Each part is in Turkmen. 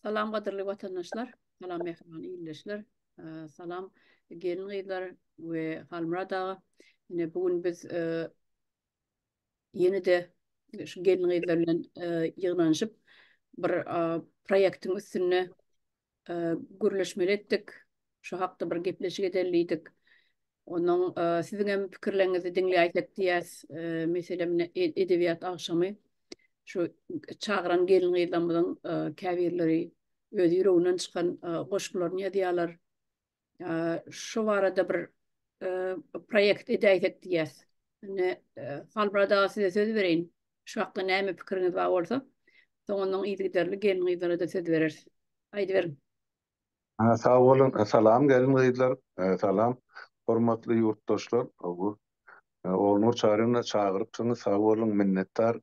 Salam gadyrly watandaşlar, salam mähriban ildeşler, salam gelin gyzlar we Halmyrat aga. Ine bu gün biz ýene-de şu gelin gyzlar bilen ýygnanyşyp bir proýektiň üstünde gürleşmeli etdik. Şu hakda bir gepleşik edeli diýdik. Onuň siziň hem pikirleriňizi diňläýsek diýýäs. Meselem, edebiýat agşamy şu çagyran gelin-gyzlarymyzyň käbirleri öz ýüreginden çykan goşgularyny ýazýarlar. Şu barada bir proýekt edäýsek diýýäs. Indi Halmyrat aga size söz bereýin. Şu hakda näme pikiriňiz bar bolsa, soňundan yzygiderli gelin-gyzlara-da söz bereris. Aýdyberiň. Sag boluň. Salam gelin-gyzlar. Salam hormatly ýurtdaşlar. Ognur Çaryna çagyrypsyňyz. Sag boluň. Minnetdar.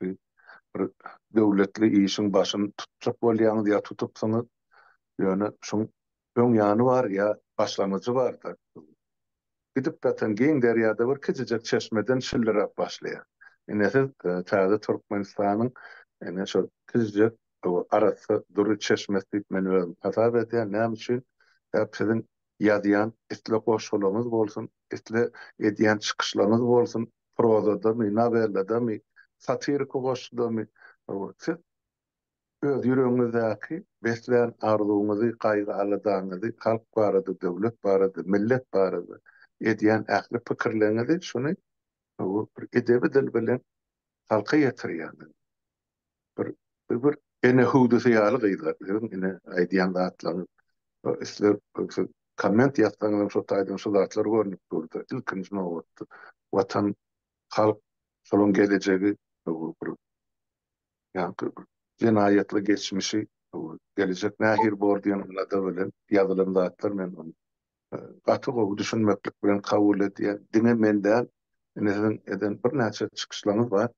Bir döwletli işiň başyny tutjak bolýaňyz ýa tutupsyňyz. Ýöne şuň Öň ýany bar ýa başlangyjy bar da suwuň. Gidip datan giň derýada bir kijijek çeşmeden şilliräp başlaýar. Ine siz täze Türkmenistanyň ine şol kijijek arassa dury çeşmesi diýip men özüm hasap edýän. Näme üçin? Sebäp siziň ýazýan isle goşgularyňyz bolsun, isle edýän çykyşlaryňyz bolsun, prozadamy, nowelladamy, satiriki goşgudamy, siz Öz ýüregiňizdäki beslän arzuwyňyzy, gaýgy-aladaňyzy, halk barada, döwlet barada, millet barada edýän ähli pikirleriňizi şuny bir edebi dil bilen halka ýetirýäňiz. Bir bir ene hüwdüsi ýaly gyzlar siziň ine aýdýan zatlaryňyz. Isle siz komment ýazsaňyzam şo taýdan şu zatlar görnüp durdy. Ilkinji nobatda Watan, halk, şolaň gelejegi bu bir ýa-da jenaýatly geçmişi, gelejek nähili bor diýen alada bilen ýazylan zatlar men ony gaty gowy düşünmeklik bilen kabul edýän diňe men däl ine siziň eden birnäçe çykyşlaryňyz bar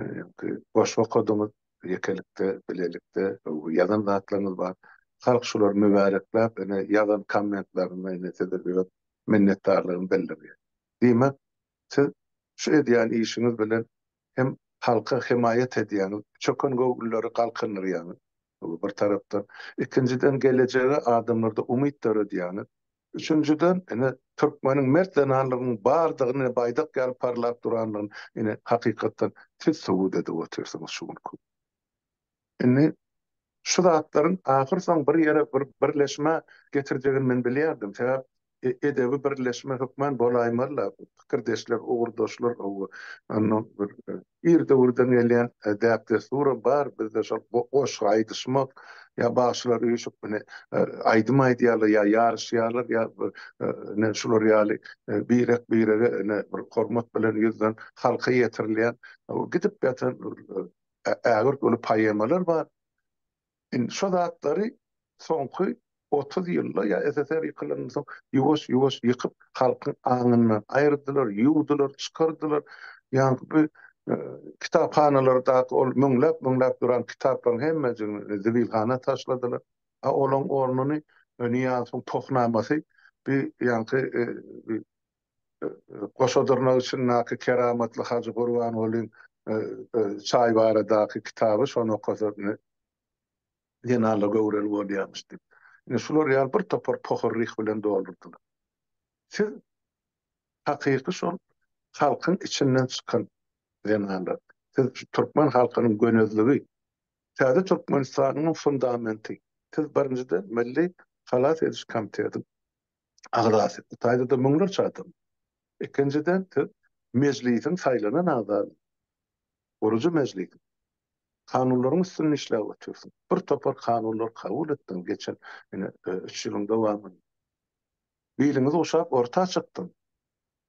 ýa-da goşgy okadyňyz ýekelikde bilelikde ýazan zatlaryňyz bar halk şulary mübärekläp ine ýazan kommentlerinde ine size öz minnetdarlygyny bildirýär diýmek siz şu edýän işiňiz bilen hem halka hemaýat edýäňiz, çökengöwünleri galkyndyrýaňyz, bu bir tarapdan. Ikinjiden, gelejege adamlarda umyt döredýäňiz. Üçünjiden, ine, türkmeniň mert zenanlygynyň bardygyny, baýdak ýaly parlap durandygyny, ine, hakykatdan siz subut edip otyrsyňyz şu günki gün. Indi şu zatlaryň ahyrsoňy bir ýere bir birleşmä getirjegini men bilýärdim. Sebäp edebi birleşme hökman bolaýmazla, pikirdeşler, ugurdaşlar gowy. Onda bir ir döwürden gelýän däp-dessuram bar, bizde şol goşgy aýdyşmak ýa bagşylar üýşüp ine aýdym aýdýarlar ýa ýaryşýarlar ýa bir ine şular ýaly birek-birege ine bir hormat bilen ýüzden halka ýetirilýän gidip ýatan ägirt uly poemalar bar. Indi şo zatlary soňky otuz ýylda ýa SSR ýykylandan soň ýuwaş-ýuwaş ýykyp, halkyň aňyndan aýyrdylar, ýuwdular, çykardylar. Ýaňky bu kitaphanalardaky ol müňläp-müňläp duran kitaplaryň hemmejigini zibilhana taşladylar. A olaň ornuny Nyýazowyň Pohnamasy, bu ýaňky Goşadyrnak içindäki keramatly Hajy Gurbangulyň çaý baradaky kitaby, şony okasa zenanlar göwreli bolýarmyş diýip. Ine, şular ýaly bir topar pohorlyk bilen doldurdylar. Siz hakyky şol halkyň içinden çykan zenanlar. Siz türkmen halkynyň gönezligi, täze Türkmenistanyň fundamenti. Siz birinjiden Milli halas ediş komitetiň agzasy, bu taýda-da müňlerçe adam. Ikinjiden, siz Mejlisiň saýlanan agzasy, gurujy Mejlis. Kanunlaryň üstünde işläp otyrsyň. Bir topar kanunlary kabul etdiň geçen, ine, üç ýylyň dowamynda. Biliňiz guşap orta çykdyň.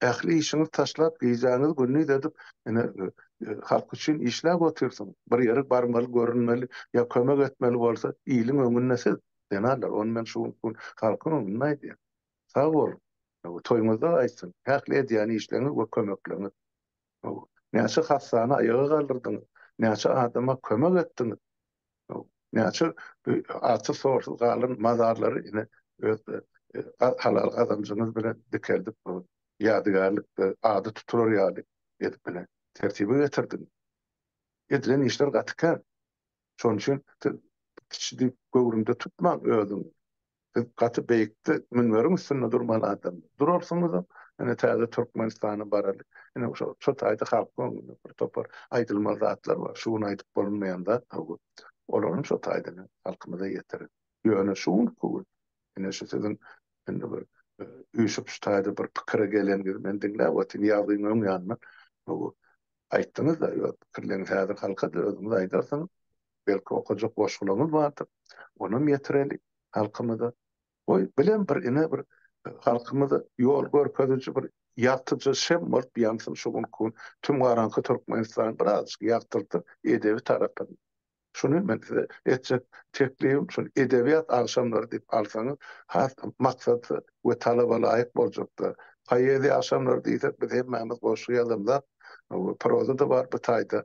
Ähli işiňizi taşlap, gijäňizi gündiz edip, ine, halk üçin işläp otyrsyň. Bir ýere barmaly, görünmeli, ýa kömek etmeli bolsa, iliň öňünde siz, zenalar, ony men şu gün halkyň öňünde aýdýan. Sag boluň! Toýuňyzda aýtsyn, ähli edýän işleriňiz we kömekleriniz! Näçe hassany aýaga galdyrdyňyz? Näçe adama kömek etdiňiz? Näçe atsy-sorsuz galan mazarlary ine öz halal gazanjyňyz bilen dikeldip bu ýadygärlikde ady tutular ýaly edip ine tertibe getirdiňiz. Edilen işler gaty kän. Şonuň üçin siz kiçidi göwrümde tutmaň özüňi. Siz gaty beýikde münberiň üstünde durmaly adam. Durarsyňyzam, ine täze Türkmenistana baraly. Ine şo şo taýda halkyň öňünde bir topar aýdylmaly zatlar bar. Şu gün aýdyp bolunmaýan zat gowy. Olaram şo taýdan halkymyza ýetirin. Ýöne şu günki gün ine şu siziň indi bir üýşüp şu taýda bir pikire geleniňizi men diňläp otyryn ýazgyň öň ýanyndan. Bu Aýtdyňyz-da öz pikirleriňizi häzir halka-da özüňiz aýdarsyňyz. Belki okajak goşgularyňyz bardyr. Onam ýetireli halkymyza. Goý, bilen bir ine bir halkymyza ýol görkeziji bir ýagtyjy şem bolup ýansyn şu günki gün tüm garaňky Türkmenistany birazajyk ýagtylsyn edebi tarapyndan. Şuny men size etjek teklibim şuny edebiýat agşamlary diýip alsaňyz has maksatly we talabalaýyk boljakdyr. Poeziýa agşamlary diýsek biz hemmämiz goşgy ýazanlar proza-da bar bu taýda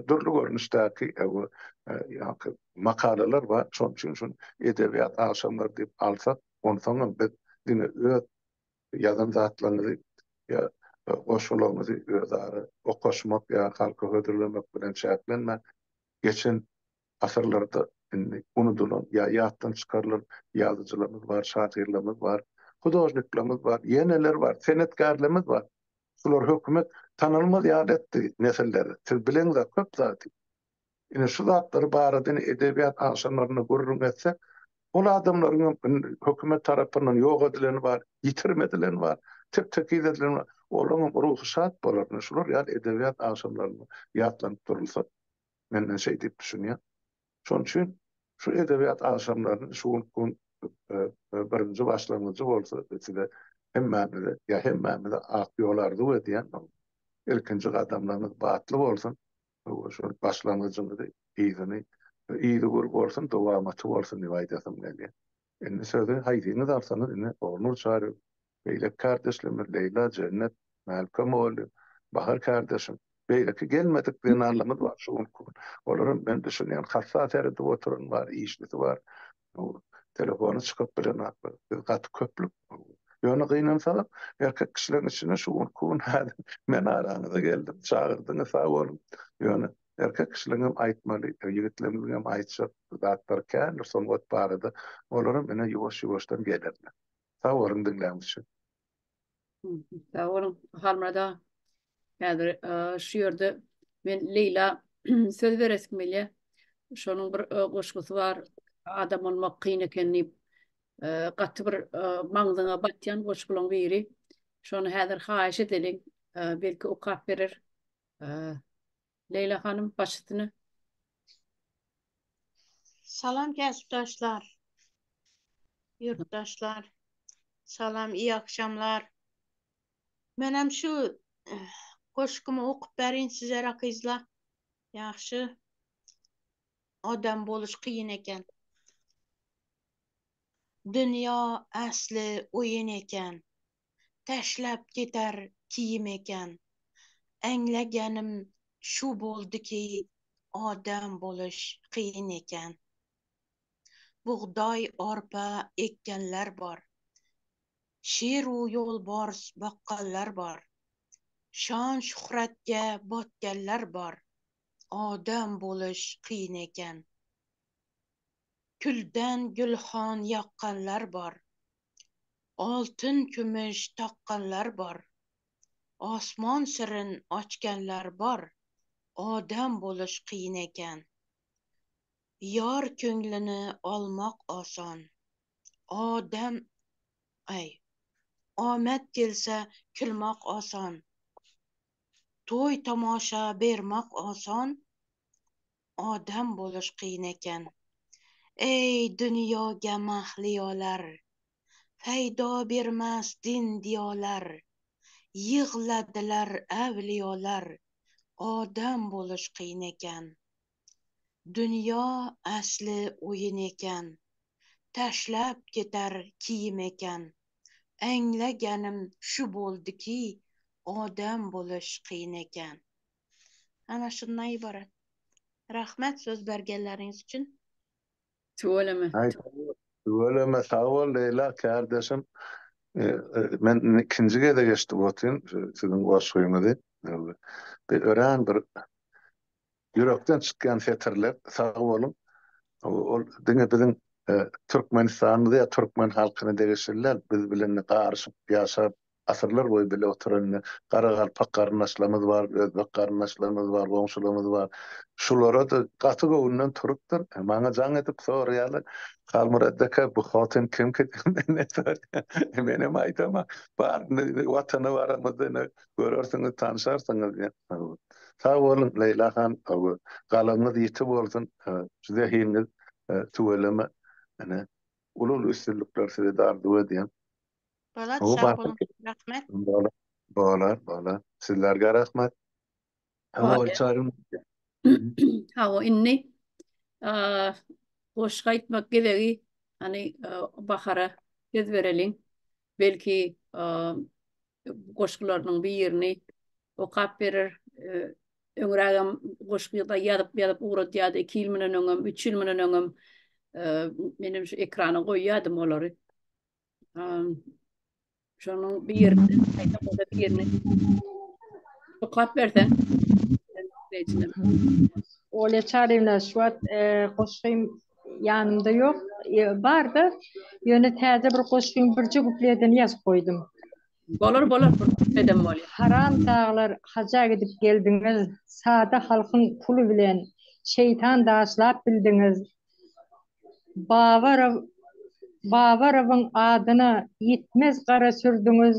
dürli görnüşdäki ýaňky makalalar bar şonuň üçin şuny edebiýat agşamlary diýip alsak onsoňam biz diňe öz Ýazan zatlaryňyzy ýa goşgularyňyzy özara okaşmak ýa halka hödürlemek bilen çäklenmän, geçen asyrlarda indi unudylan ýa ýatdan çykarylan ýazyjylarymyz bar, şahyrlarymyz bar, hudožniklerimiz bar, ýeneler bar, senetkärlerimiz bar. Şular hökümet tanalmaz ýaly etdi nesilleri. Siz bileňiz-ä köp zady. Ine, şu zatlar barada edebiýat agşamlarynda gürrüň etsek, ol adamlaryň hem hökümet tarapyndan ýok edileni bar, ýitirim edileni bar, tek-tekiz edileni bar. Olaryň hem ruhy şat bolar. Ine, şular ýaly edebiýat agşamlarynda ýatlanyp durulsa, men ine şeý diýip düşünýän. Şonuň üçin şu edebiýat agşamlaryny şu günkiň birinji başlangyjy bolsa, size hemmämize, ýa hemmämize ak ýol arzuw edýän. Ilkinji gadamlaryňyz batly bolsun! Hawa, şol başlangyjymyzy, yzyny, yzy gür bolsun, dowamaty bolsun diýip aýdasym gelýär. Indi sözi haýsyňyz alsaňyz, ine, Ognur Çaryýew, beýleki kardeşlerimiz, Leýla, Jennet, Mälike mugallym, Bahar kardeşim, beýleki gelmedik zenanlarymyz bar şu günki gün. Olaram men düşünýän, hassa seredip oturan bar, işlisi bar. telefony çykyp bilen zatlar. Biz gaty köplük. Ýöne gynansaňam, erkek kişileriň içinde şu gün ku gün häzir men araňyza geldim. Çagyrdyňyz sag boluň. Ýöne erkek kişileriň hem aýtmaly, ýigitlerimiziň hem aýtjak zatlary kändir sungat barada. Olaram ine ýuwaş-ýuwaşdan gelerler. Sag boluň diňläň üçin. Sag boluň, Halmyrat aga. Häzir şu ýerde men Leýla söz beresim gelýär. Şonuň bir goşgusy bar, Adam bolmak kyn eken diýip, gaty bir maňzyňa batýan goşgularyň biri. Şony häzir haýyş edeliň, belki okap berer. Leýla hanym baş üstüne. Salam kesipdaşlar. Ýurtdaşlar. Salam, iyi akşamlar. Menem şu eh, goşgumy okup berin size rakyzla. Ýagşy. Adam boluş kyn eken. Dünýä äsli oýun eken. täşläp gider kim eken? Äňlägenim şu boldy ki adam boluş kyn eken. Bugdaý arpa ekgenler bar. Şir u ýolbars bakganlar bar. Şan şuhratge batgenler bar. Adam boluş kyn eken. Külden gülhan ýakganlar bar. Altyn-kümüş takganlar bar. Osman syryň açganlar bar. Adam boluş kyn eken. Ýar köňlüni almak osan. Adam, aý, amat gelse külmek osan. Toý-tomaşa bermek osan. Adam boluş kyn eken. Eý dünýä gemah lýolar, Peýda bermez din diýolar, Ýygladylar äwlýolar, Adam boluş kyn eken. Dünýä asly oýun eken, Taşlap gider kim eken, Eňlegenim şu boldy ki, Adam boluş kyn eken. Ana şundan ybarat. Rahmet söz bergenleriňiz üçin. Tüweleme. Tüweleme sag bol Leýla kärdeşim. Men ikinji gezek eşidip otyryn siziň goşgyňyzy. Bir örän bir ýürekden çykýan setirler. Sag boluň. Ol diňe biziň Türkmenistanyňyza ýa türkmen halkyna degişli däl. Biz bilen garyşyp ýaşap Asyrlar boýy bile oturan ine, garagalpak garyndaşlarymyz bar, özbek garyndaşlarymyz bar, goňşularymyz bar. Şulara-da gaty göwünden turupdyr. Maňa jaň edip soraýarlar, Halmyrat aka, bu hotin kimki diýip menden soraýarlar. Menem aýdaman, bar, indi Watana baramyzda, ine, görersiňiz, tanşarsyňyz diýen. Sag boluň, Leýla han, owo, galaňyz ýiti bolsun, zehiniňiz tüweleme, ine, uly-uly üstünlikler sizede arzuw edýän. Bolat sag boluň rahmet. Bolar bolar sizlerge rahmet. Hawa indi goşgy aýtmak gezegi hany Bahara söz bereliň belki goşgularynyň birini okap berer öňrägem goşgy ýazyp ýazyp ugradýady iki ýyl munden öňem üç ýyl munden öňem menem şu ekrana goýýadym olary Şonuň bir ýerini, gaýta goda bir ýerini oklap berseň. Olýa Çaryýewna, şu wagt goşgym ýanymda ýok. Bar-da, ýöne täze bir goşgyň birje kupledini ýazyp goýdum. Bolar, bolar, bir kupledem bolýa. Haramtaglar, haja gidip geldiňiz, sada halkyň puly bilen şeýtan daşlap bildiňiz. Babarow Babarowyň adyna ýitmez gara sürdüňiz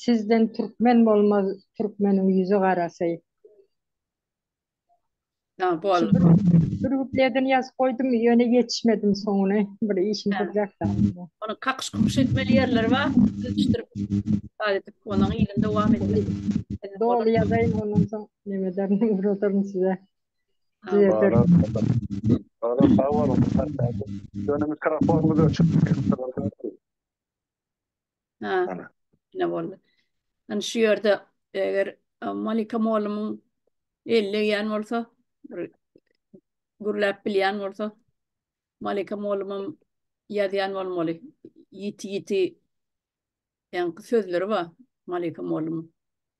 sizden türkmen bolmaz türkmeniň ýüzi garasy. Sag bol. Bir kupledini ýazyp goýdum ýöne ýetişmedim soňuna bir işim durjakda. Ony kakyş kukyş etmeli ýerleri bar ýetişdirip bad edip onuň yzyn dowam etmeli. Doly ýazaýyn ondan soň neme ederin uradaryn size. Düzelderis. Sag boluň. Ýöne mikrofonyňyz öçük. Ha. Ine boldy. Indi şu ýerde eger Malika mugallymyň eli degýän bolsa, bir gürläp bilýän bolsa, Malika mugallymam ýazýan bolmaly. Ýiti-ýiti ýaňky sözleri bar Malika mugallymyň.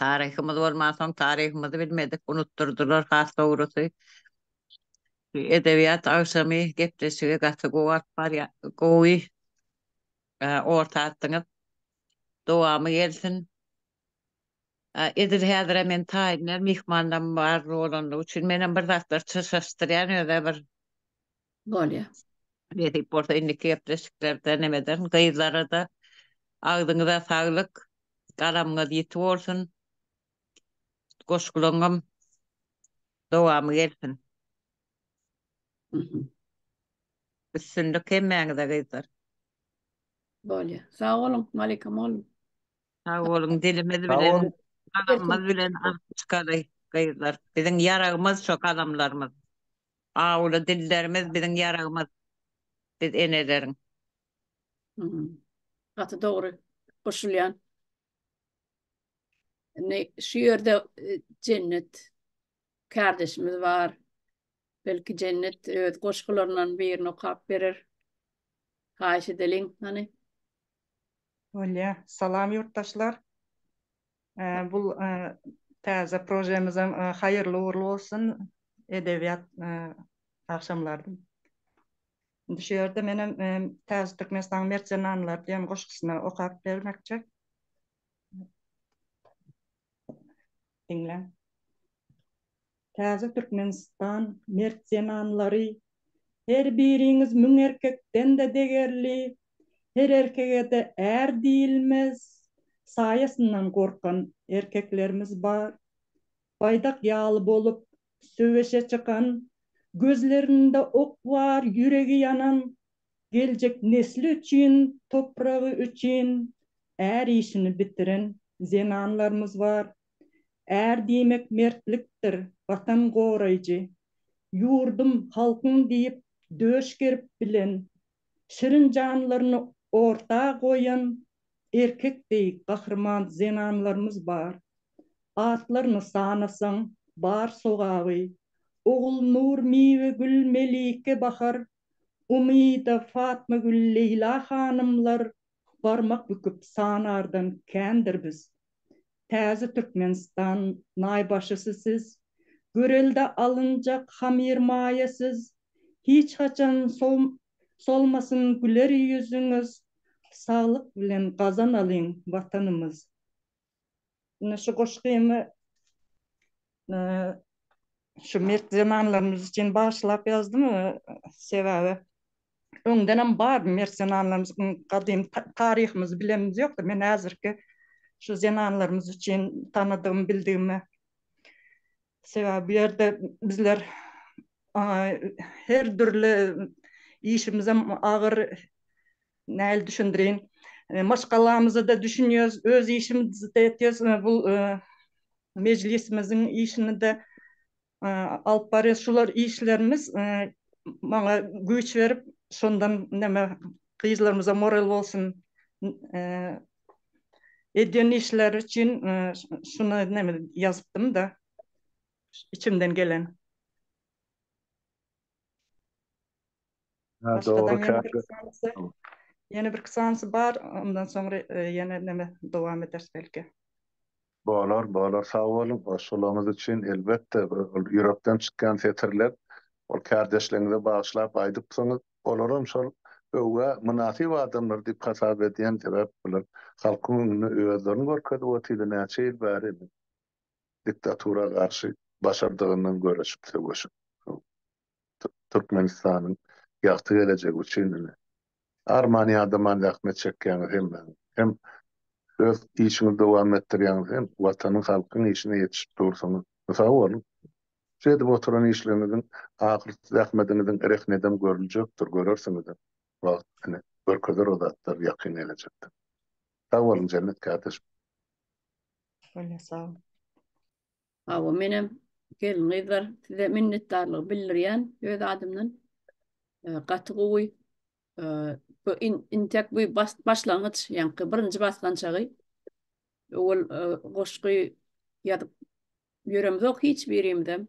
Taryhymyz bolmansoň, taryhymyzy bilmedik, unutdyrdylar has dogrusy. Edebiýat agşamy gepleşigi gaty gowy alyp barýa, gowy orta atdyňyz. Dowamy gelsin. Edil häzirem men taýyndan myhmanlarym bar bolanlygy üçin menem bir zatlar çyrşaşdyrýan özä bir Bolýa. Nesip bolsa indiki gepleşiklerde nemeden gyzlarada agzyňyza saglyk galamyňyz ýiti bolsun goşgulaňňam dowamy gelsin. Üstünlik hemmäňize gyzlar. Bolýa. Sag boluň Malika mugallym. Sag boluň dilimiz bilen galamymyz bilen alyp çykaly gyzlar biziň ýaragymyz şo galamlarymyz. Awuly dillerimiz biziň ýaragymyz biz eneleriň. Gaty dogry goşulýan. Indi şu ýerde Jennet kardeşimiz bar. Belki Jennet öz goşgularyndan birini okap berer. Haýyş edeliň hany. Bolýa. Salam ýurtdaşlar. Bu täze projemizem haýyrly ugrly bolsun edebiýat agşamlary. Indi şu ýerde menem Täze Türkmenistanyň mert zenanlary diýen goşgusyny okap bermekçi. Diňläň. Täze Türkmenistan mert zenanlary Her biriňiz müň erkekden-de degerli Her erkege-de är diýilmez Saýasyndan gorkan erkeklerimiz bar Baýdak ýaly bolup söweşe çykan Gözlerinde ok bar, ýüregi ýanan Geljek nesli üçin, topragy üçin Är işini bitiren zenanlarymyz bar. Är diýmek mertlikdir, Watan goraýjy. Ýurdum, halkym diýip döş gerip bilen, şirin janlaryny orta goýan erkek deý gahryman zenanlarymyz bar. Atlaryny sanasaň, bar sogaby, Ogulnur, Miwegül, Melike, Bahar, Umyda, Fatmagül, Leýla hanymlar barmak büküp sanardan kändir biz. Täze Türkmenistan naýbaşysy siz, görelde alynjak hamyr maýa siz, hiç haçan solmasyn güler ýüzüňiz, saglyk bilen gazanalyň Watanymyz. Ine şu goşgymy Şu mert zenanlarymyz üçin bagyşlap ýazdym. Sebäbi öňdenem bar mert zenanlarymyz gadymy taryhymyzy bilenimiz ýokdy. Men häzirki şu zenanlarymyz üçin tanadygym bildigime sebäbi bu ýerde bizler her dürli işimizem agyr näl düşündirin maşgalamyzada düşünýäs öz işimizi de etýäs bu Mejlisimiziň işini-de alyp barýas. Şular işlerimiz maňa güýç berip, şondan näme gyzlarymyza moral bolsun. Edýän işleri üçin şuny näme ýazypdym-da, içimden gelen. Ha dogry käte. Ýene birki seansy bar, ondan soň ýene neme dowam ederis belki. Bolar, bolar sag boluň goşgularyňyz üçin elbetde ol ýürekden çykýan setirler ol kärdeşleriňize bagyşlap aýdypsyňyz olaram şol öwgä mynasyp adamlar diýip hasap edýän sebäp bular halkyň öňünde özlerini görkezip otyrlar näçe ýyl bäri. diktatura garşy başardygyndan göreşip söweşip Türkmenistanyň ýagty gelejegi üçin ine arman ýadaman zähmet çekýäňiz hemmäňiz hem öz işiňizi dowam etdirýäňiz hem watanyň halkyň işine ýetişip dursyňyz sag boluň şu edip oturan işleriňiziň ahyrysy zähmediňiziň rehni edem görüljekdir görersiňizem wagt ine görkezer o zatlar ýakyn gelejekde sag boluň jennet kärdeşim. Bolýa sag. Hawa menem gelin gyzlar size minnetdarlygy bildirýän öz adymdan. Gaty gowy. Bu intek bu başlangyç ýaňky birinji basgançagy. Owal goşgy ýazyp ýöremzok hiç birimizem.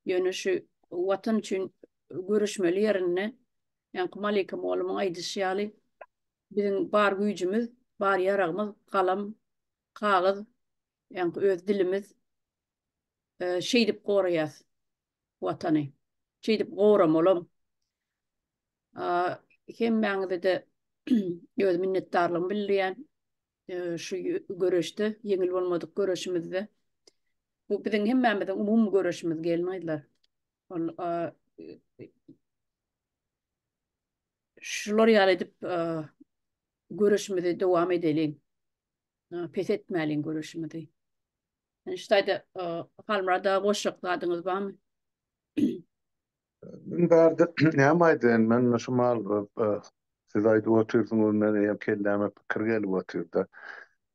Ýöne şu watan üçin göreşmeli ýerinde ýaňky Malyka molymyň aýdyşy ýaly Biziň bar güýjümiz, bar ýaragymyz galam, kagyz, ýaňky öz dilimiz. Şeýdip goraýas Watany. Şeýdip goramalam. Hemmäňize-de öz minnetdarlygymy bildirýän şu göreşde, ýeňil bolmadyk göreşimizde. Bu biziň hemmämiziň umumy göreşimiz gelin-gyzlar. Ol Şular ýaly edip göreşimizi dowam edeliň. Pes etmäliň göreşimizi. Yani şu taýda Halmurada goşjak zadyňyz barmy? Men bardy, näme aýdaýyn, men şu mal siz aýdyp otyrsyňyz, men eýýäm kelläme pikir gelip otyrda.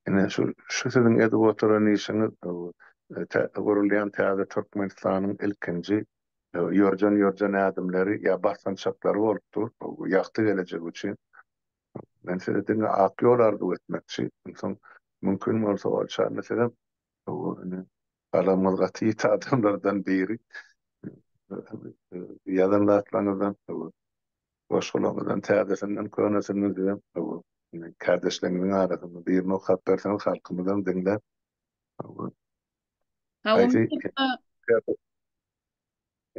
Ine şu şu siziň edip oturan işiňiz gurulýan täze Türkmenistanyň ilkinji ýörjen-ýörjen ädimleri ýa basgançaklary bolup dur ýagty gelejek üçin. Men size diňe ak ýol arzuw etmekçi. Onsoň mümkin bolsa ol çanda sizem indi galamyňyz gaty ýiti adamlardan biri ýazan zatlaryňyzdan, goşgularyňyzdan täzesinden, könesinden sizem kärdeşleriňiziň arasynda birini okap berseňiz halkymyzam diňläp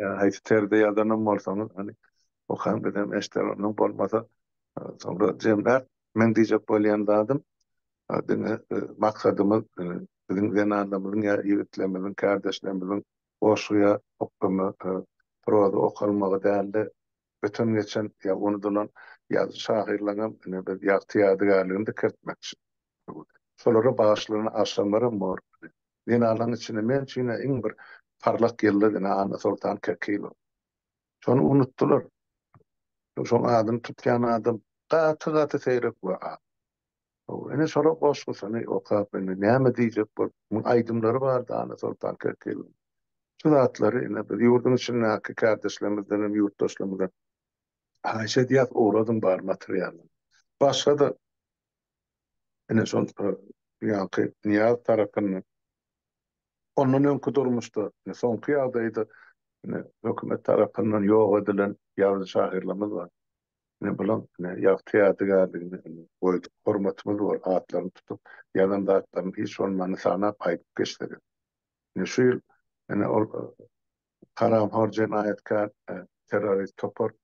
Haýsy terde ýadanam bolsaňyz, hany, okaň bizem eşderenok bolmasa, soňra jemlär. Meň diýjek bolýan zadym, diňe maksadymyz biziň zenanlarymyzyň ýa ýigitlerimiziň, kärdeşlerimiziň goşgy ýa oklama, proza okalmagy däldi. öten geçen ýa unudylan ýazyjy şahyrlaň hem ine bir ýagty ýadygärligini dikeltmekçi. Şolara bagyşlanan agşamlaram bor. Zenanlaň içinde men üçin ine iň bir parlak ýyldyz ine Annasoltan Kekilow. Şony unutdylar. Şoň adyny tutýan adam gaty-gaty seýrek we az. Hawa, ine şolar goşgusyny okap, indi näme diýjek bolup, muň aýdymlary bar dana Soltan Kerkiliň. Şu zatlary ine biz ýurduň içindäki kärdeşlerimizden hem ýurtdaşlarymyzdan haýyş edýäs, ogradyň bar materialy. Başga-da ine şol ýaňky Nyýaz tarapyndan ondan öňki durmuşda, ine soňky ýagdaýda ine hökümet tarapyndan ýok edilen ýazyjy-şahyrlarymyz bar. Ine, bulaň, ine, ýagty ýadygärligine, ine, goýduk, hormatymyz bor, atlaryny tutup, ýazan zatlaryny hiç bolmanda sanap aýdyp geçsegem. Ine, şu ýyl, ine, ol haramhor jenaýatkär terrorist topar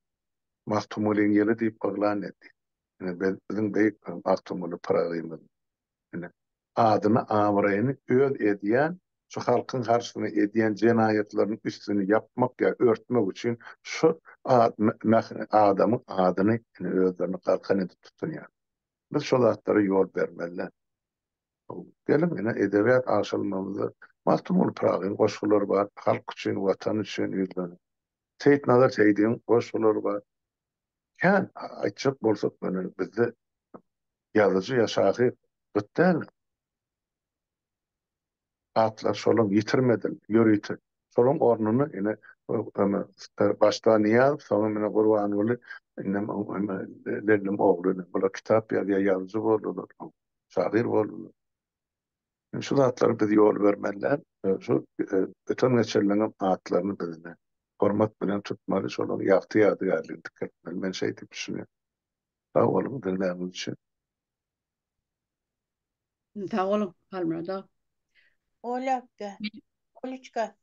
Magtymgulyň ýyly diýip yglan etdi. Ine, biz, biziň beýik Magtymguly Pyragymyz. Ine, adyny-abraýyny öz edýän, şu halkyň garşysyna edýän jenaýatlarynyň üstüni ýapmak ýa örtmek üçin şu adamyň adyny ine özlerini galkan edip tutunýar. Biz şo zatlara ýol bermeli däl. Geliň, ine, edebiýat agşalmamyzda Magtymguly Pyragyň goşgulary bar, Halk üçin, Watan üçin ýüzleniň. Seýitnazar Seýdigiň goşgulary bar. Kän aýtjak bolsak mena bizde ýazyjy ýa şahyr gyt däl. Atlar şolam ýitirmedil, ýörite. Şolaň ornuna ine eme başda Nyýaz soňam mena Gurbanguly indem eme Lellem ogly ine bular kitap ýazýar ýazyjy boldular soň şahyr boldular. Indi şu zatlary biz ýol bermeliler. Şu öten-geçenleriňem atlaryny biz ine, hormat bilen tutmaly, şolaryň ýagty ýadygärligini dikeltmeli. Men şeý diýip düşünýän. Sag boluň diňläniňiz üçin. Sag boluň, Halmyrat aga. Olýa akga, Oliçka,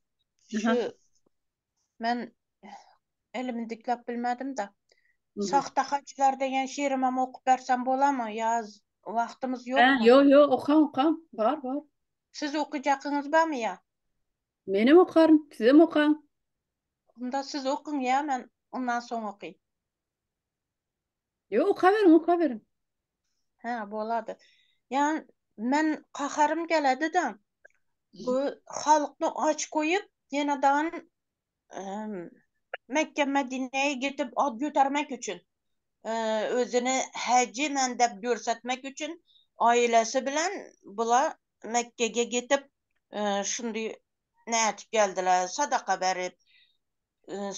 şu Men elimi dikläp bilmedim-de. Şahta hajylar degen şirimem okup bersem bolamy ýa wagtymyz ýokmy? Ýo, ýo, okaň, okaň. Bar, bar. Siz okyjakyňyz barmy ýa? Menem okaryn, sizem okaň. Onda siz okyň ýa men ondan soň okaýyn. Yo okaberiň okaberiň. Hä bolady. Ýan men kaharym geledi de. Bu halkny aç goýup ýene dan Mekge Medine gidip ad götermek üçin. Özüni haji men dep görsetmek üçin ailesi bilen bula Mekge ge gidip şundy nädip geldiler, sadaka berip,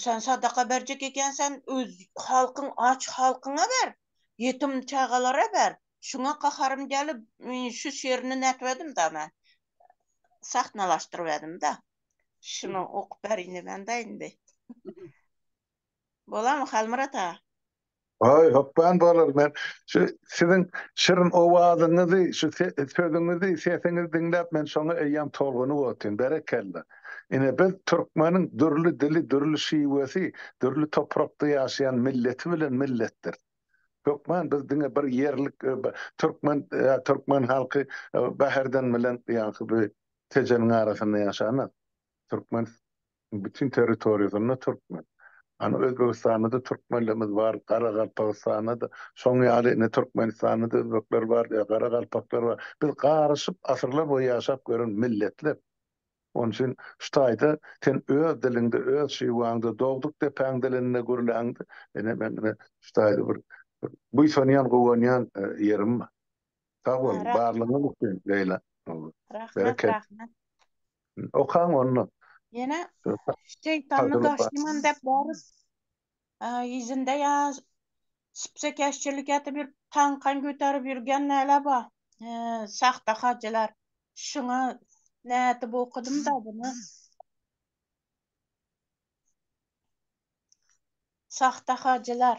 sen sadaka berjek ekensen, öz halkyň, aç halkyňa ber, ýetim çagalara ber, şuňa gaharym gelip, şu şerini nätip edim-da men, sahnalaşdyryp edim-da, şuny okup berin diýmän-de indi. Bolamy Halmyrat aga? Haý, hökman bolar. Men şu siziň şirin owazyňyzy, şu sözüňizi, sesiňizi diňläp men şoňa eýýäm tolgunyp otyryn. Berekella. Ine biz türkmeniň dürli dili, dürli şiwesi, dürli toprakda ýaşaýan milleti bilen milletdir. Hökman biz diňe bir ýerlik türkmen türkmen halky Bäherden bilen ýaňky bu tejeniň arasynda ýaşanok. Türkmen Bütin territoriýasynda türkmen. Ana Özbegistanda-da türkmenlerimiz bar, Garagalpagystanda-da şoň ýaly, ine Türkmenistanda-da özbekler bar, ýa garagalpaklar bar. Biz garyşyp asyrlar boýy ýaşap gören milletler. Onuň üçin şu taýda sen öz diliňde, öz Şiwaňda, dogduk depäň dilinde gürläňde, ine men ine şu taýda bir buýsanýan, guwanýan ýerim bar. Sag bol, barlygyňyz üçin Leýla. Rahmet, rahmet. Okaň onda. Ýene şeýtany daşyman dep borus. Ýüzünde ýa spsekeşçilik edip ýörüp, tankan göterip ýörgen näle bar? Sahta hajylar. Şuňa nädip okadym-da bunu. Sahta hajylar.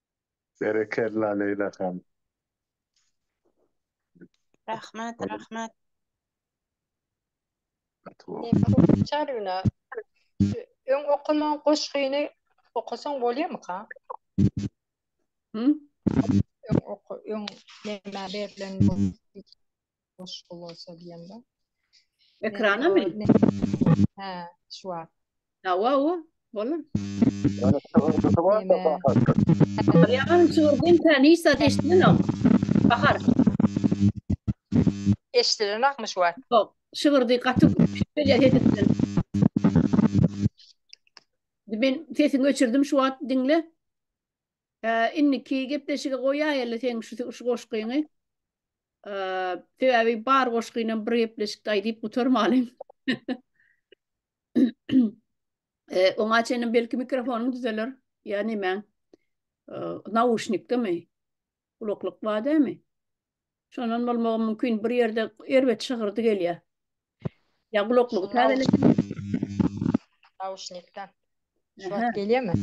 Berekella Leýla hanym. Rahmat rahmat. Çaryna öň okaman goşgyny okasaň bolýamyka? Öň öň näme berlen boş bolsa diýende. Ekrana mi? Hä, şu wagt. Hawa, hawa, bolar. Ýöne çygyrdysyz barda bahar. Ýaňam çygyrdyň sen hiç zat eşitmeňok. Bahar. Eşidilenokmy şu wagt? Ýok, çygyrdy gaty gelýär sesinden. Men sesini öçürdim şu wagt diňle. Indiki gepleşige goýaýaly seň şu goşgyňy. Sebäbi bar goşgynam bir gepleşikde aýdyp gutarmalyň. Oňa çenli belki mikrofonyň düzeler ýa nemäň. Nauşnikdemi? Gulaklyk bar dämi? Şondan bolmagam mümkin. Bir ýerde erbet şygyrdy gelýär. Ya gulaklygy täzeledim. Nauşnikden. Şu wagt gelýärmi?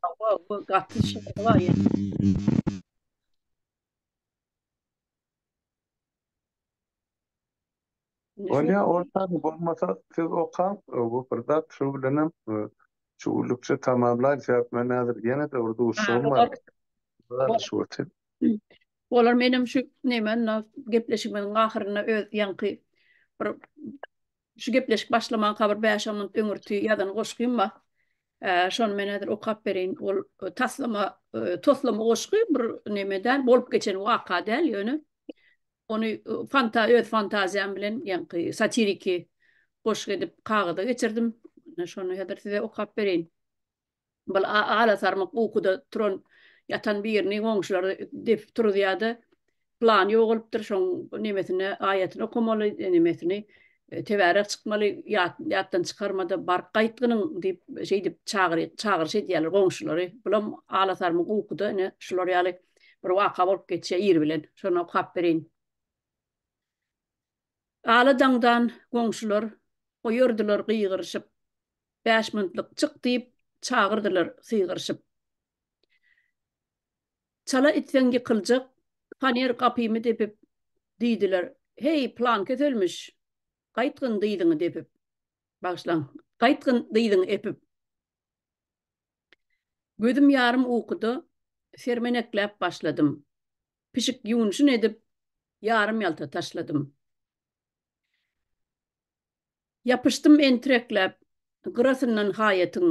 Hawa, bu gaty şygyr bar ýa. Bolýa, orta bolmasa siz okaň, bu bir zat şu bilenem şu gülükçe tamamlaýyn sebäp men häzir ýene-de bir duşuşygym bar. Olar menem şu neme na gepleşigimiziň ahyrynda öz ýaňky bir şu gepleşik başlamanka bir bäş-on minut öňürti ýazan goşgym bar. Ee, şony men häzir okap bereýin. Ol e, taslama, e, toslama goşgy bir neme däl, bolup geçen waka däl, ýöne ony e, fanta öz fantaziýam bilen ýaňky satiriki goşgy edip kagyza geçirdim. Şony häzir size okap bereýin. Bir alasarmyk ukuda turan, ýatan birini goňşulary depip turuzýar-da, Pylany ýogalypdyr, şoň nemesini, aýatyny okamaly, nemesini, tebärek çykmaly, ýatdan çykarma-da, baryp gaýtgynyň diýip, şeýdip çagyryş edýärler goňşulary. Bulam alasarmyk ukuda ine şular ýaly bir waka bolup geçýär ir bilen. Şony okap bereýin. Ala daňdan goňşular goýardylar gygyryşyp, Bäşmyntlyk çyk diýip, çagyrdylar sygyryşyp. Çala itseň ýykyljak faner gapymy depip, Diýdiler, Heý, pylankeç ölmüş, gaýtgyn dyzyňy depip. Bagyşlaň, gaýtgyn dyzyňy epip. Gözüm ýarym ukuda sermenekläp başladym. pişik ýuwunşyn edip, ýarym-ýalta taşladym. Ýapyşdym entirekläp gyrasyndan haýatyň,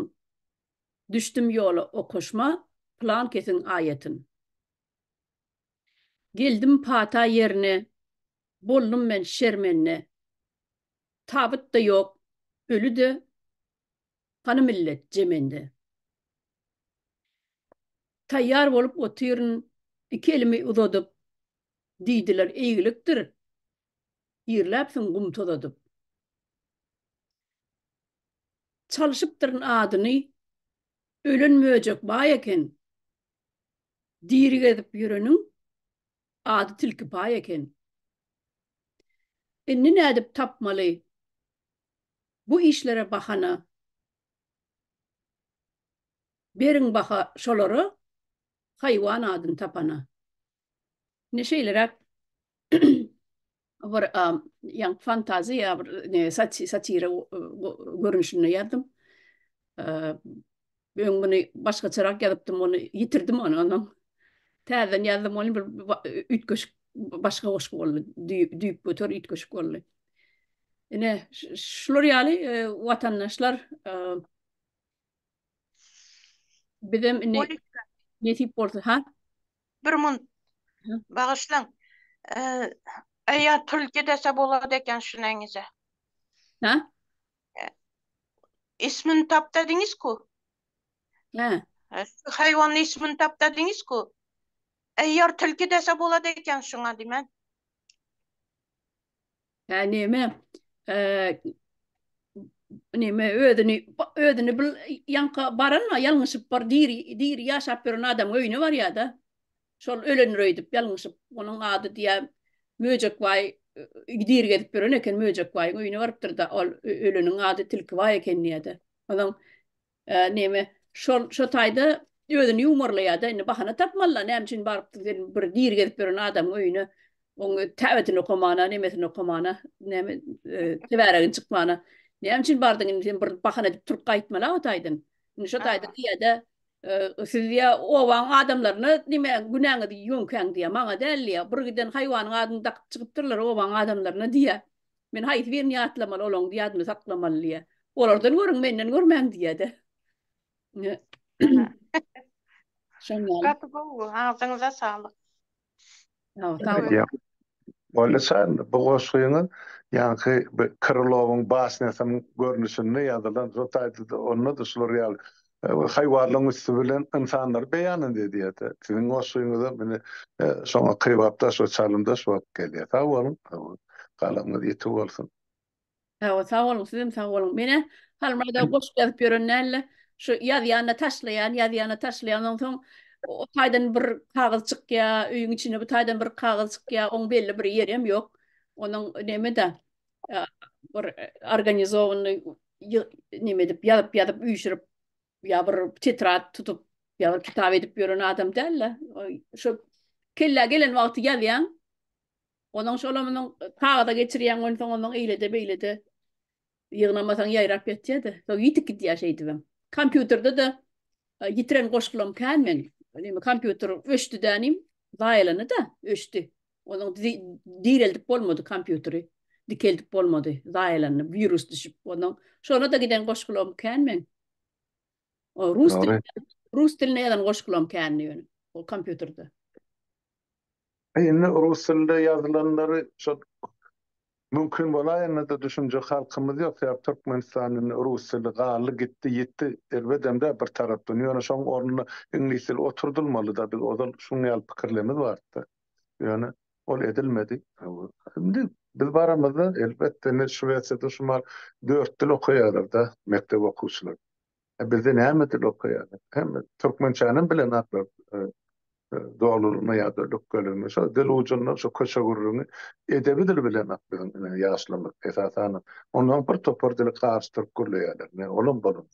düşdüm ýola okaşma pylankesiň aýatyn. Geldim pata ýerine, boldum men şermende, tabyt-da ýok, öli-de, Hany millet je mende. Taýýar bolup otyryn iki elimi uzadyp, Diýdiler eýgilikdir, girläpsiň gum tozadyp. Çalşypdyryn adyny, ölen möjek baý eken, Diri gezip ýöreniň ady tilkipaý eken. Indi nädip tapmaly bu işlere bahana Beriň baha şolara haýwan adyny tapana indi şeýleräk bir ýaňky fantaziýa bir satira görnüşinde ýazdym Öň muny başgaçarak ýazypdym, ony ýitirdim ony onam. Täzeden ýazdym ony bir üýtgeşik başga goşgy boldy. Düýp göter üýtgeşik boldy. Ine şular ýaly e, watandaşlar e, bizem indi nesip bolsa ha. Bir mun bagyşlaň. E, Eýe, tül gidese bolady eken şunaňyza. Ha? Ismini tapda diňizku. Hä. Haýwan ismini tapda diňizku. Eýer tilki dese bolady eken şuňa diýmän. Hä näme? Näme özüni özüni bil ýanka baranma ýalňyşyp bar diri diri ýaşap ýören adamyň öýüne barýada. Şol ölendir öýdüp, ýalňyşyp, onuň ady diýýär, Möjekbaý dir gezip ýören eken, Möjekbaýyň öýüne barypdyr-da, ol öleniň ady Tilkibaý eken diýýär-de. Onsoň näme, şol şo taýda özüni ýuwmarlaýar-da, indi bahana tapmaly-da, näme üçin barypdyr sen bir dir gezip ýören adamyň öýüne, oň täbetini okamana, nemesini okamana, näme, tebäregini çykmana, näme üçin bardyň indi sen bir bahana edip turup gaýtmaly-a o taýdan. Indi şo taýda diýýär-de, Siz diýýä, obaň adamlaryna nime günäňizi ýöňkäň diýýä, maňa däl diýýä. Bir giden haýwanyň adyny dakyp çykypdyrlar obaň adamlaryna diýýä. Men haýsy birini ýatlamaly, olaň ýadyny saklamaly diýýä. Olardan görüň, menden görmäň diýýä-de. Şondan. Gaty gowy, agzyňyza saglyk. Boldy Şahin, bu goşgyňyz ýaňky Krylowyň basnýasynyň görnüşinde ýazylan, hut aýdyldy, onda-da şular ýaly haýwanlaryň üsti bilen ynsanlary beýan edýärdi. Siziň goşgyňyzam ine şoňa kybapdaş we çalymdaş bolup gelýär. Sag boluň, galanyňyz ýiti bolsun! Hawa, sag boluň, siz hem sag boluň. Men-ä Halmyradow goşgy ýazyp ýören däldi. Şu ýazýan-da taşlaýan, ýazýan-da taşlaýan. Ondan soň o taýdan bir kagyz çykýar, öýüň içinde bu taýdan bir kagyz çykýar, oň belli bir ýeri hem ýok. Onuň neme-de, bir organizowanyny neme edip, ýazyp-ýazyp, üýşürip, ýa bir tetrad tutup, ýa bir kitap edip ýören adam däldi. Şo kellä gelen wagty ýazýaň. Ondan şol amynyň kagyza geçirýän gün soň ondan eýlede beýlede ýygnamasaň ýaýrap ýetýädi. Soň ýitip gidýär şeýdibem. Kompýuterde de ýitiren goşgulam kän men. Neme kompýuter öçdi dänim, zaýalany da, öçdi. Onuň direldip bolmady kompýuteri. Dikeldip bolmady, zaýalany, wirus düşüp. Ondan şona da giden goşgulam kän men. O rus dil, rus dilinde ýazan goşgulam kändi ýöne o kompýuterde. Indi rus dilinde ýazylanlary şol mümkin bolaýanda-da düşünjek halkymyz ýok. Sebäp Türkmenistan indi rus dili galdy gitdi, ýitdi. Erbedem-de bir tarapdan. Ýöne şoň ornuna iňlis dili oturdylmaly-da. Biz ozal şuň ýaly pikirlerimiz bardy-da. Ýöne ol edilmedi. Indi biz baramyzda elbetde indi Şwesiýada şu mahaly dört dil okaýarlar-da mekdep okuwçylary. E bizde näme dil okaýarlar? Hemme türkmençänem bilenoklar. E, e, Dolurma ýa-da lükgelimi. Şo dil ujundan şo köçe gürrüňi edebi dil bilenok biziň e, ýaşlarymyz esasan. Ondan bir topar dili karşy türk gürleýärler. Ne olam bolan.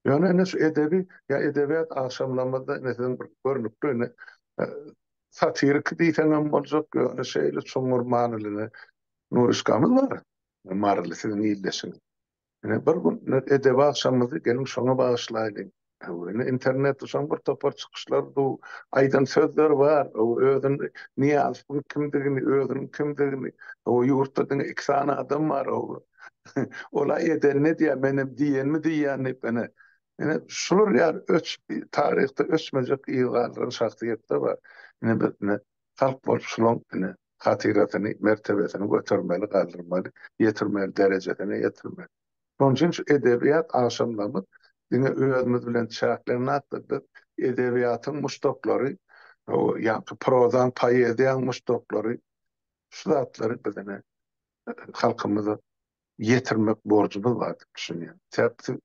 Ýöne indi şu edebi ýa edebiýat agşamlarymyzda indi siziň bir görnükli indi e, satirik diýseňem boljak, ýöne şeýle çuňňur manyly Nuryşkamyz bar. Maryly siziň ildeşiňiz. Ine, bir gün edebi agşamymyzy geliň şoňa bagyşlaýlyň. Ine, internetde şoň bir topar çykyşlar duw, aýdan sözler bar. Özüni Nyýazowyň kimdigini, özüniň kimdigini. Hawa, ýurtda diňe iki sany adam bar. Ol-a eden edýär, menem diýenimi diýýän diýip, ine, ine, şular ýaly öçüp, taryhda öçmejek yz galdyran şahsyýetler bar. Ine, biz, ine, halk bolup şolaň, ine, hatyrasyny, mertebesini götermeli, galdyrmaly, ýetirmeli, derejesine ýetirmeli. Şonuň üçin şu edebiýat agşamlarymyz diňe özümiz bilen çäklenmändir. Biz edebiýatyň muşdaklary, ýa-da prozaň, poeziýaň muşdaklary şu zatlary biz ine halkymyza ýetirmek borjumyz bar diýip düşünýän. Sebäbi siz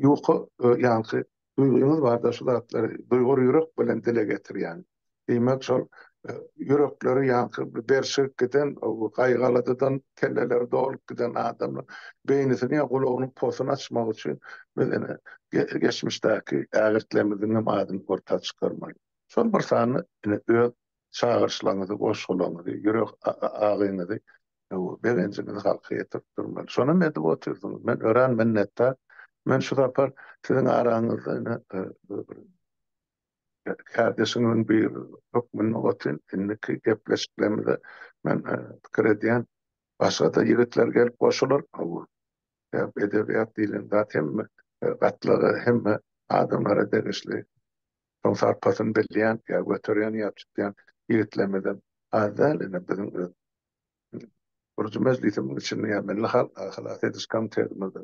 ýuka ýaňky duýgyňyz barda şu zatlary duýgur ýürek bilen dile getirýän. Diýmek şol ýürekleri ýaňky berşigip giden gaýgy-aladadan kelleleri dolup giden adamlar beýnisini ýa gulagynyň posuny açmak üçin biz ine geçmişdäki ägirtlerimiziňem adyny orta çykarmaly. Şol bir sany ine öz çagyryşlaryňyzy, goşgularyňyzy, ýürek agyňyzy, begenjiňizi halka ýetirip durmaly. Şonam edip otyrsyňyz. Men örän minnetdar. Men şu sapar siziň araňyzda ine kärdeşiňiziň biri hökmünde otyryn. Indiki gepleşiklerimize men pikir edýän, başga-da ýigitler gelip goşular. Sebäbi edebiýat diýlen zat hemme gatlaga, hemme adamlara degişli. Şoň sarpasyny bilýän ýa göterýän ýa tutýan ýigitlerimizem az däl ine biziň öz gurujy mejlisimiň içinde ýa milli halk halas ediş komitetimize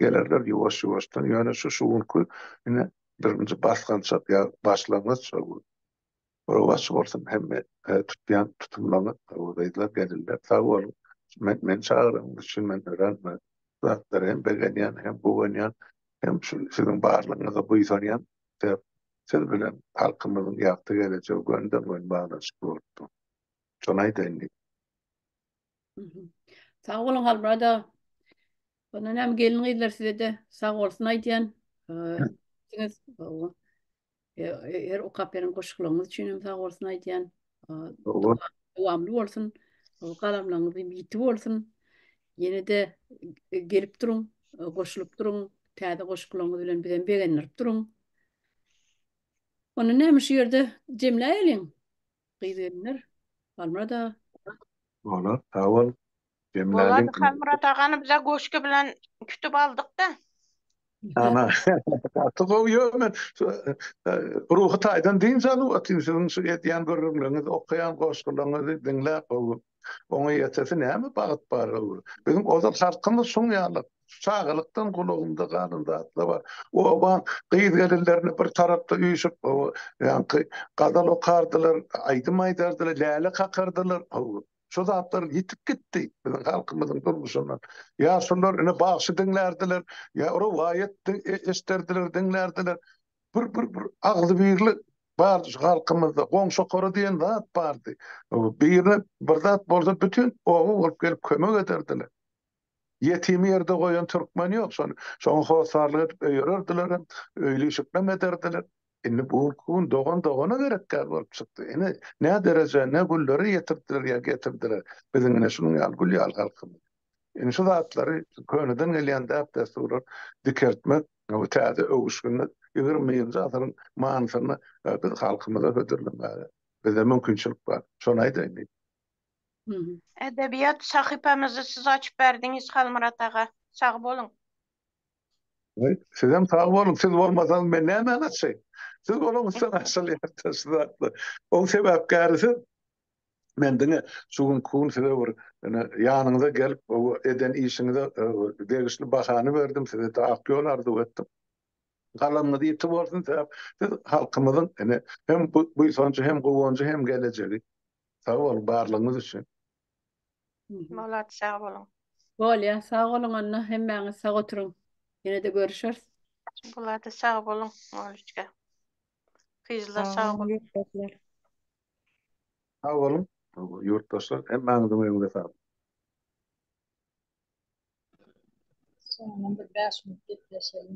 gelerler ýuwaş ýuwaşdan ýöne şu şu günki ine birinji basgançak ýa başlangyç şol gün Rowa açyk bolsun hemme tutýan tutumlaňyz we gyzlar gelinler sag boluň men meni çagyranyňyz üçin men örän bu zatlara hem begenýän hem guwanýan hem şu siziň barlygyňyza buýsanýan mekdep siz bilen halkymyzyň ýagty gelejegi gönden-gön baglanyşykly bolup dur. Şony aýdaýyn diýdim. Sag boluň Halmyrat aga. Onda näme gelin-gyzlar size-de sag bolsun aýdýan. Her okap beren goşgularyňyz üçin hem sag bolsun aýdýan. Dowamly bolsun. Galamlaryňyz ýiti bolsun. Ýene-de gelip duruň, goşulyp duruň. Täze goşgularyňyz bilen bizem begendirip duruň. Onda näme şu ýerde jemläýeliň. Gyz-gelinler, Halmyrat aga. Bolar, sag bol. Bolady Halmyrat agany bize goşgy bilen kütüp aldykda. Ana gaty gowy yo men ruhy taýdan dynç alyp otyryn siziň şu edýän gürrüňleriňizi okaýan goşgularyňyzy diňläp gowy oňa ýetesi näme bagt bar gowy biziň ozal halkymyz şuň ýaly çagalykdan gulagymda galan zatlar bar oba gyz gelinlerini bir tarapda üýşüp gowy ýaňky gazal okardylar aýdym aýdardylar läle kakardylar gowy Şu zatlar ýitip gitdi biziň halkymyzyň durmuşyndan. Ýaşulylar ine bagşy diňlärdiler, ýa rowaýat eşderdiler, diňlärdiler. Bir bir bir agzybirli bardy şu halkymyzda. Goňşokara diýen zat bardy. Birine bir zat bolsa bütin oba bolup gelip kömek ederdiler. Ýetimi ýerde goýan türkmen ýok, şony, şoňa hossarlyk edip öýererdilerem, öýli işiklem ederdiler. Indi bu günki gün dogan dogana gerek däl bolup çykdy. Ine, nä derejä, ne günlere ýetirdiler ýa getirdiler biziň ine şunuň ýaly gül ýaly halkymyzy. Indi şu zatlary, şu köneden gelýän däp-dessurlary dikeltmek, bu täze öwüşginde ýigrimi birinji asyryň manysynda biz halkymyza hödürlemäge bize mümkinçilik bar. Şony aýdaýyn diýdim. Edebiýat sahypamyzy siz açyp berdiňiz Halmyrat aga. Sag boluň. Sizem sag boluň, siz bolmasaňyz men nämäni açaýyn. Siz bolaňyzsoň açylýar-da şu zatlar. Oň sebäpkäri siz. Men diňe şu günki gün size bir ine ýanyňyza gelip eden işiňize degişli bahany berdim, size ak ýol arzuw etdim. Galamyňyz ýiti bolsun sebäp siz halkymyzyň ine hem buýsanjy hem guwanjy hem gelejegi. Sag boluň barlygyňyz üçin. Malat sag boluň. Bolýa sag boluň onda hemmäňiz sag oturyň ýenede görüşeris. Bolady sag boluň Oliçka. Kyzlar sag boluň. Sag boluň ýurtdaşlar hemmäňiziň öýüňize saglyk. Soňundan bir bäş minut gepleşelim.